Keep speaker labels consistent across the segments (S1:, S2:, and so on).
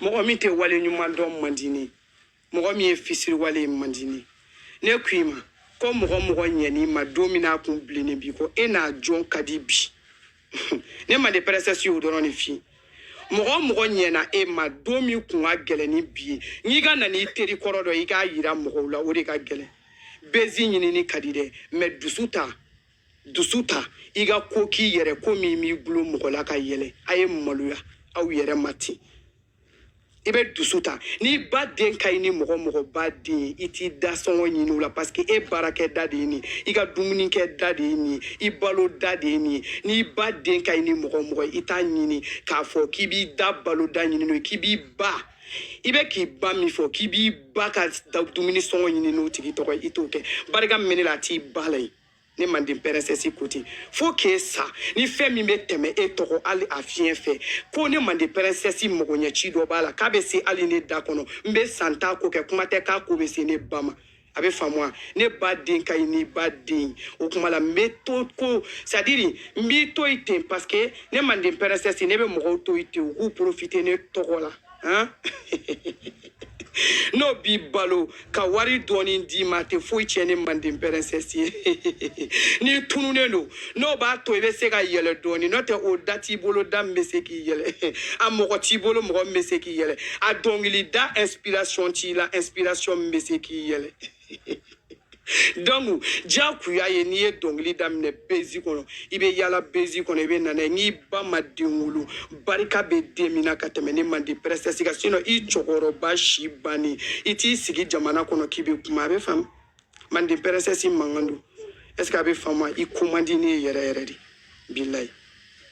S1: mɔgɔ min tɛ wale ɲuman dɔn man di ne mɔgɔ min ye fisiriwale ye man di ne ne ko i ma ko mɔgɔ mɔgɔ ɲɛn'i ma don min n'a kun bilennen bi ko e n'a jɔn ka di bi ne manden princesse y'o dɔrɔn de fi mɔgɔ mɔgɔ ɲɛna e ma don min kun ka gɛlɛn ni bi ye n'i ka na n'i teri kɔrɔ dɔ i k'a yira mɔgɔw la o de ka gɛlɛn bezi ɲinini ka di dɛ mais dusu ta dusu ta i ka ko k'i yɛrɛ ko min b'i bolo mɔgɔ la ka yɛlɛ a ye maloya aw yɛrɛ ma ten i bɛ dusu ta n'i ba den ka ɲi ni mɔgɔ mɔgɔ ba den i t'i da sɔngɔ ɲini o la parce que e baarakɛ da de ye nin i ka dumuni kɛ da de ye nin i balo da de ye nin n'i ba den ka ɲi ni mɔgɔ mɔgɔ i t'a ɲini k'a fɔ k'i b'i da balo da ɲini n'o ye k'i b'i ba i bɛ k'i ba min fɔ k'i b'i ba ka dumuni sɔngɔ ɲini n'o tigi tɔgɔ ye i t'o kɛ barika min bɛ ne la a t'i ba la yen ne manden princesse côté fo k'e sa ni fɛn min bɛ tɛmɛ e tɔgɔ hali a fiɲɛ fɛ ko ne manden princesse magoɲɛci dɔ b'a la k'a bɛ se hali ne da kɔnɔ n bɛ san t'a ko kɛ kuma tɛ k'a ko bɛ se ne ba ma a bɛ faamu wa ne ba den ka ɲi n'i ba den o kuma la n bɛ to ko c'est à dire n b'i to yen ten parce que ne manden princesse ne bɛ mɔgɔw to yen ten u k'u profiter ne tɔgɔ la Hein? n'o b'i balo ka wari dɔɔni d'i ma tɛ foyi tiɲɛ ne manden princesse ye n'i tununen don n'o b'a to i bɛ se ka yɛlɛ dɔɔni n'o tɛ o da t'i bolo da min bɛ se k'i yɛlɛ a mɔgɔ t'i bolo mɔgɔ min bɛ se k'i yɛlɛ a dɔnkilida inspiration t'i la inspiration min bɛ se k'i yɛlɛ donc diyagoya ye n'i ye dɔnkili daminɛ bezi kɔnɔ i bɛ yala bezi kɔnɔ i bɛ nana n'i ba ma den wolo barika bɛ den min na ka tɛmɛ ne manden princesse kan sinon i cɛkɔrɔba si bannen i t'i sigi jamana kɔnɔ k'i bɛ kuma a bɛ faamu manden princesse mankan don est ce que a bɛ faamu i ko man di ne ye yɛrɛ yɛrɛ de bilayi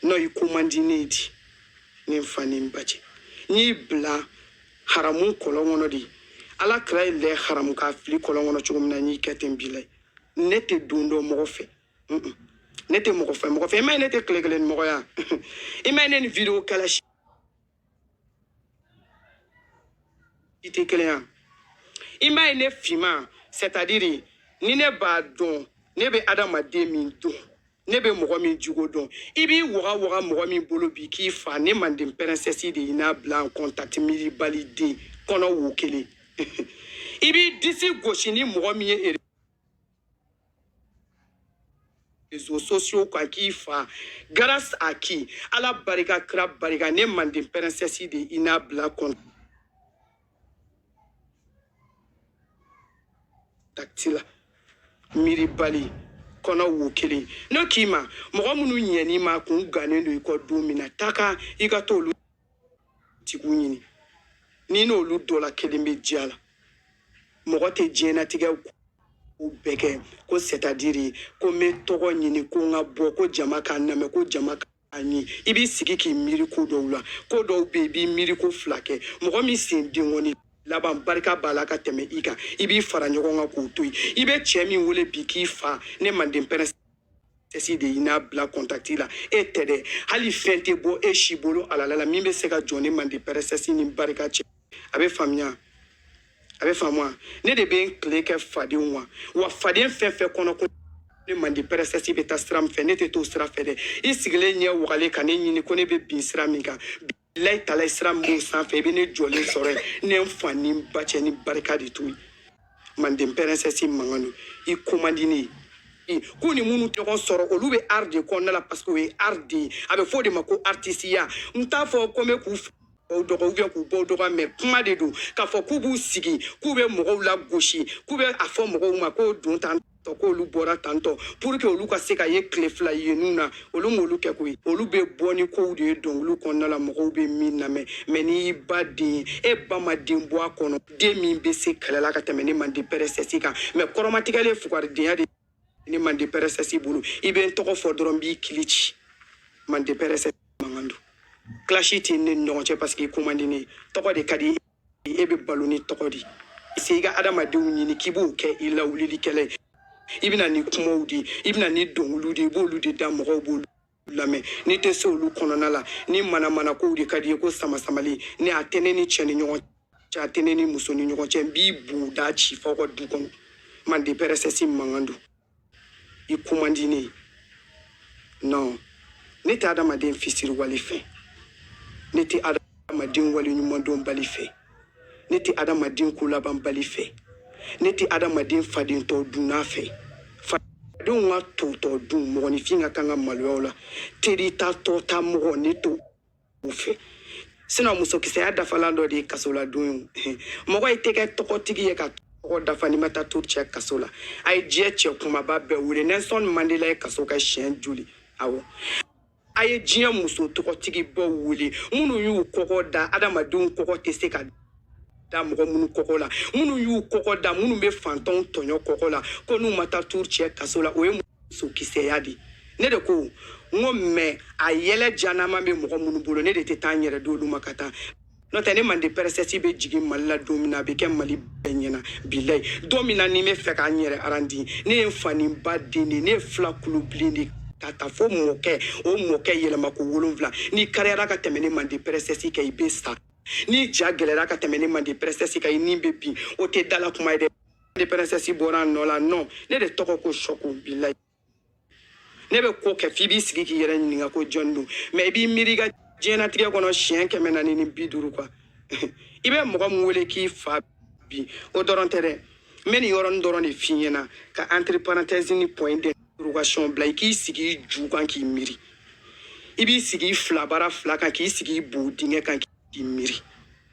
S1: non i ko man di ne ye di ne fa ni n ba cɛ n y'i bila haramu kɔlɔn kɔnɔ de ala kira ye lɛ haramu k'a fili kɔlɔn kɔnɔ cogo min na n y'i kɛ ten bilayi ne tɛ don dɔ mɔgɔ fɛ ne tɛ mɔgɔ fɛ mɔgɔ fɛ i m'a ye ne tɛ tile kelen ni mɔgɔ ye i m'a ye ne ni video kɛla si tɛ kelen ye i m'a ye ne finma c'est à dire ni ne b'a dɔn ne bɛ adamaden min dɔn ne bɛ mɔgɔ min jogo dɔn i b'i waga waga mɔgɔ min bolo bi k'i fa ne manden princesse de y'i n'a bila en contact miiribali den kɔnɔ wo kelen i b'i disi gosi ni mɔgɔ min ye réseaux sociaux kan k'i fa grâce à qui ala barika kira barika ne manden princesse de y'i n'a bila contact takiti la miiribali kɔnɔ wo kelen ne k'i ma mɔgɔ minnu ɲɛn'i ma kun gannen don i kɔ don min na taka i ka t'olu tigiw ɲini n'i n'olu dɔ la kelen bɛ diya la mɔgɔ tɛ diɲɛnatigɛ ko bɛɛ kɛ ko sɛtadiri ko n bɛ tɔgɔ ɲini ko n ka bɔ ko jama k'a namɛn ko jama ka ani i b'i sigi k'i miiri ko dɔw la ko dɔw bɛ yen i b'i miiri ko fila kɛ mɔgɔ min sen denkɔni laban barika b'a la ka tɛmɛ i kan i b'i fara ɲɔgɔn kan k'o to yen i bɛ cɛ min wele bi k'i fa ne manden pɛrɛsɛsi de y'i n'a bila kɔntakiti la e tɛ dɛ hali fɛn tɛ bɔ e si bolo alala la min bɛ se ka jɔ ne manden pɛrɛsɛsi ni barika cɛ a bɛ faamuya a bɛ faamuya ne de bɛ n tile kɛ fadenw wa wa faden fɛn fɛn kɔnɔ ko ne manden pɛrɛsɛsi bɛ taa sira min fɛ ne tɛ t'o sira fɛ dɛ i sigilen ɲɛ wagalen ka ne ɲini ko ne bɛ bin sira min kan bilayi talayi sira min b'o sanfɛ i bɛ ne jɔlen sɔrɔ yen ne n fa ni n ba cɛ ni barika de to yen manden pɛrɛsɛsi mankan don i ko man di ne ye k'u ni minnu ɲɔgɔn sɔrɔ olu bɛ art de kɔnɔna la parce que o ye art de ye a bɛ fɔ o de ma ko artisiya n t'a fɔ ko n bɛ k'u o dɔgɔ ubiyɛn k'u bɔ dɔgɔ mɛ kuma de don k'a fɔ k'u b'u sigi k'u bɛ mɔgɔw lagosi k'u bɛ a fɔ mɔgɔw ma k'o don tantɔ k'olu bɔra tantɔ pour que olu ka se ka ye tile fila yenniw na olu m'olu kɛ koyi olu bɛ bɔ ni kow de ye dɔnkiliw kɔnɔna la mɔgɔw bɛ min lamɛn mɛ n'i y'i ba den ye e ba ma den bɔ a kɔnɔ den min bɛ se kɛlɛ la ka tɛmɛ ne manden pɛrɛsɛsi kan mɛ kɔrɔmatigɛlen fugaridenya de ne mande pɛrɛsɛsi bolo i bɛ n tɔgɔ fɔ dɔrɔn n b'i kili ci mande pɛrɛsɛsi mankan don clash tɛ ne n'i ɲɔgɔn cɛ paseke i ko man di ne ye tɔgɔ de ka di e bɛ balo ni tɔgɔ de ye se i ka adamadenw ɲini k'i b'o kɛ i lawulilikɛla ye i bɛ na ni kumaw de ye i bɛ na ni dɔnkiliw de ye i b'olu de da mɔgɔw b'olu lamɛn n'i tɛ se olu kɔnɔna la ni manamana kow de ka d'i ye ko samasamali ne a tɛ ne ni cɛ ni ɲɔgɔn cɛ a tɛ ne ni muso ni ɲɔgɔn cɛ n b'i boda ci f'aw ka du kɔnɔ mande pɛrɛsɛsi mankan don i ko man di ne ye non ne tɛ adamaden fisiriwale fɛ ne tɛ adamaden waleɲumandɔnbali fɛ ne tɛ adamaden kolabanbali fɛ ne tɛ adamaden fadentɔ dunna fɛ fadenw ka totɔ dun mɔgɔninfin ka kan ka maloyaw la teri ta tɔ ta mɔgɔ ne t'o fɛ sinɔn musokisɛya dafalan dɔ de ye kasoladon ye mɔgɔ i tɛ kɛ tɔgɔtigi ye ka tɔgɔ dafa n'i ma taa to cɛ kaso la a ye diɲɛ cɛ kumaba bɛɛ wele nɛlsɔn mandela ye kaso kɛ siɲɛ joli awɔ a ye diɲɛ muso tɔgɔtigibaw wele minnu y'u kɔkɔ da adamadenw kɔkɔ tɛ se ka da mɔgɔ minnu kɔkɔ la minnu y'u kɔkɔ da minnu bɛ fantanw tɔɲɔ kɔkɔ la ko n'u ma taa turu cɛ kaso la o ye musokisɛya de ne de ko n ko mɛ a yɛlɛ janama bɛ mɔgɔ minnu bolo ne de tɛ taa n yɛrɛ di olu ma ka taa n'o tɛ ne mande pɛrɛsɛsi bɛ jigin mali la don min na a bɛ kɛ mali bɛɛ ɲɛna bilayi don min na ni n bɛ fɛ ka n yɛrɛ arandi ne ye n fa ni n ba den de ne ye fila kulu bilen de ka taa fo mɔkɛ o mɔkɛ yɛlɛma ko wolonwula n'i kariyara ka tɛmɛ ne mande pɛrɛsɛsi kan i bɛ sa n'i ja gɛlɛra ka tɛmɛ ne mande pɛrɛsɛsi kan i ni bɛ bin o tɛ dala kuma ye dɛ mande pɛrɛsɛsi bɔra a nɔ la non ne de tɔgɔ ko sɔku bilayi ne bɛ ko kɛ f'i b'i sigi k'i yɛrɛ ɲininka ko jɔn don mais i b'i miiri i ka diɲɛnatigɛ kɔnɔ siɲɛ kɛmɛ naani ni bi duuru quoi i bɛ mɔgɔ min wele k'i fa bi o dɔrɔn tɛ dɛ n bɛ nin yɔrɔnin dɔrɔn de f'i ɲɛna ka entre parenthèse ni point d'interrogation bila i k'i sigi i ju kan k'i miiri i b'i sigi i fila bara fila kan k'i sigi i bo dingɛ kan k'i miiri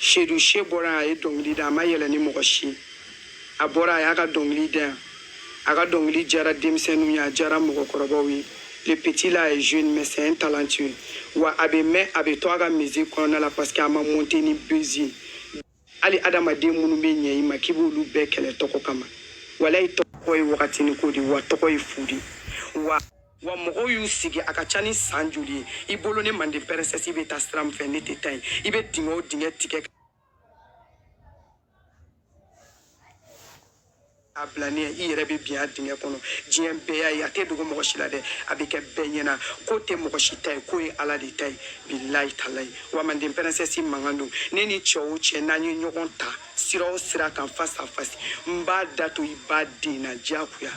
S1: seydou chee bɔra a ye dɔnkili da a ma yɛlɛn ni mɔgɔ si ye a bɔra a y'a ka dɔnkili da yan a ka dɔnkili jara denmisɛnninw ye a jara mɔgɔkɔrɔbaw ye le petit là est jeune mais c'est un talentueux wa a bɛ mɛn a bɛ to a ka musique kɔnɔna la parce que a ma monte ni buzz ye hali adamaden minnu bɛ ɲɛ i ma k'i b'olu bɛɛ kɛlɛ tɔgɔ kama walayi tɔgɔ ye wagatinin ko de wa tɔgɔ ye fu de wa mɔgɔw y'u sigi a ka ca ni san joli ye i bolo ne manden pɛrɛnsɛsi i bɛ taa sira min fɛ ne tɛ taa yen i bɛ dingɛ o dingɛ tigɛ a bila ne ye i yɛrɛ bɛ bin a dingɛ kɔnɔ diɲɛ bɛɛ y'a ye a tɛ dogo mɔgɔ si la dɛ a bɛ kɛ bɛɛ ɲɛna ko tɛ mɔgɔ si ta ye ko ye ala de ta ye bilayi talayi wa manden pɛrɛnsɛsi mankan don ne ni cɛ o cɛ n'an ye ɲɔgɔn ta sira o sira kan face à face n b'a da to i ba den na diyagoya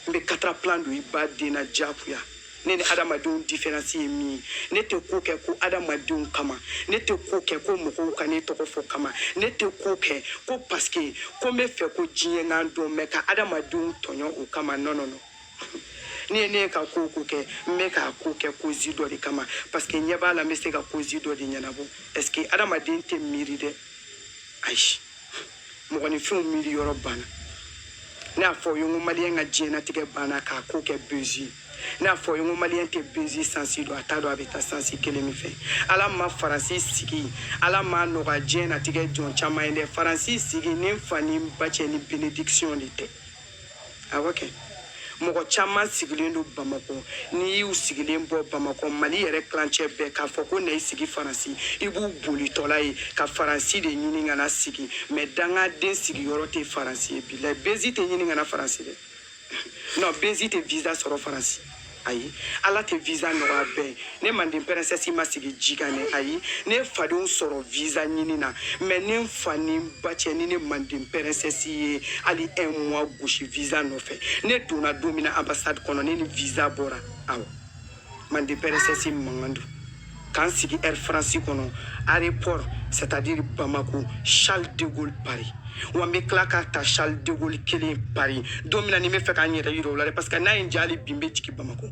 S1: n bɛ quatre plan don i ba den na diyagoya ne ni adamadenw diferansi ye min ye ne tɛ ko kɛ ko adamadenw kama ne tɛ ko kɛ ko mɔgɔw ka ne tɔgɔ fɔ kama ne tɛ ko kɛ ko parce que ko n bɛ fɛ ko diɲɛ ka n dɔn mais ka adamadenw tɔɲɔ o kama non non non ne ne ka ko o ko kɛ n bɛ k'a ko kɛ cause dɔ de kama parce que ɲɛ b'a la n bɛ se ka cause dɔ de ɲɛnabɔ est-ce que adamaden tɛ miiri dɛ ayi mɔgɔninfinw miiri yɔrɔ banna ne y'a fɔ o ye n ko maliyɛn ka diɲɛnatigɛ banna k'a ko kɛ buzz ne y'a fɔ o ye n ko maliyɛn tɛ buzz sens dɔn a t'a dɔn a bɛ taa sens kelen min fɛ ala ma faransi sigi ala m'a nɔgɔya diɲɛnatigɛ jɔn caman ye dɛ faransi sigi ni n fa ni n ba cɛ ni bénédiction de tɛ awɔ kɛ mɔgɔ caman sigilen don bamakɔ n'i y'u sigilen bɔ bamakɔ mali yɛrɛ tilancɛ bɛɛ k'a fɔ ko na i sigi faransi i b'u bolitɔla ye ka faransi de ɲini ka na sigi mais dangaden sigiyɔrɔ tɛ faransi ye bilayi buzz tɛ ɲini ka na faransi dɛ non buzz tɛ visa sɔrɔ faransi ayi ala tɛ visa nɔgɔya bɛɛ ye ne manden pɛrɛnsɛsi ma sigi ji kan dɛ ayi ne fadenw sɔrɔ visa ɲini na mais ne n fa ni n ba cɛ ni ne manden pɛrɛnsɛsi ye hali un mois gosi visa nɔfɛ ne donna don min na ambassade kɔnɔ ne ni visa bɔra awɔ manden pɛrɛnsɛsi mankan don ka n sigi air france kɔnɔ aéroport c'est à dire bamako charles de gaulle paris wa n bɛ tila k'a ta charles de gaulle kelen paris don min na ni n b'a fɛ ka n yɛrɛ yira u la dɛ parce que n'a ye n diya hali bi n bɛ jigin bamako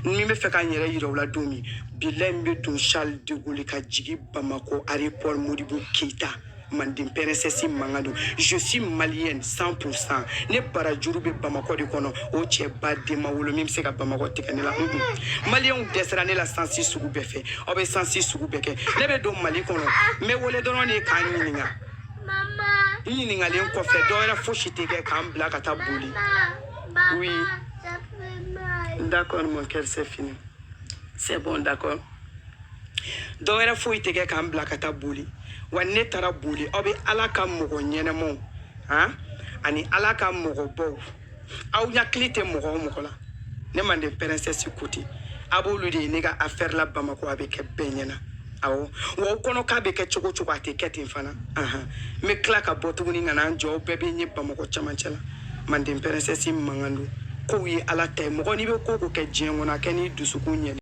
S1: ni n b'a fɛ ka n yɛrɛ yira u la don min bilayi n bɛ don charles de gaulle ka jigin bamako aéroport modibo keyita manden princesse mankan don je suis malienne 100 pour cent ne barajuru bɛ bamakɔ de kɔnɔ o cɛ ba den ma wolo min bɛ se ka bamakɔ tigɛ ne la maliyɛnw dɛsɛra ne la sansi sugu bɛɛ fɛ aw bɛ sansi sugu bɛɛ kɛ ne bɛ don mali kɔnɔ n bɛ wele dɔrɔn de ka n ɲininka n ɲininkalen kɔfɛ dɔ wɛrɛ fosi tɛ kɛ ka n bila ka taa bollé oui d'accord mon cœur c'est fini c'est bon d'accord dɔwɛrɛ foyi tɛ kɛ ka n bila ka taa bollé wa ne taara bollé aw bɛ ala ka mɔgɔ ɲɛnɛmaw han ani ala ka mɔgɔbaw aw hakili tɛ mɔgɔ o mɔgɔ la ne manden princesse côté a b'olu de ye ne ka afɛri la bamakɔ a bɛ kɛ bɛɛ ɲɛna awɔ wa o kɔnɔ k'a bɛ kɛ cogo cogo a tɛ kɛ ten fana ahan n bɛ tila ka bɔ tuguni ka na n jɔ bɛɛ bɛ n ye bamakɔ camancɛ la manden princesse mankan don kow ye ala ta ye mɔgɔ n'i bɛ ko o ko kɛ diɲɛ kɔnɔ a kɛ n'i dusukun ye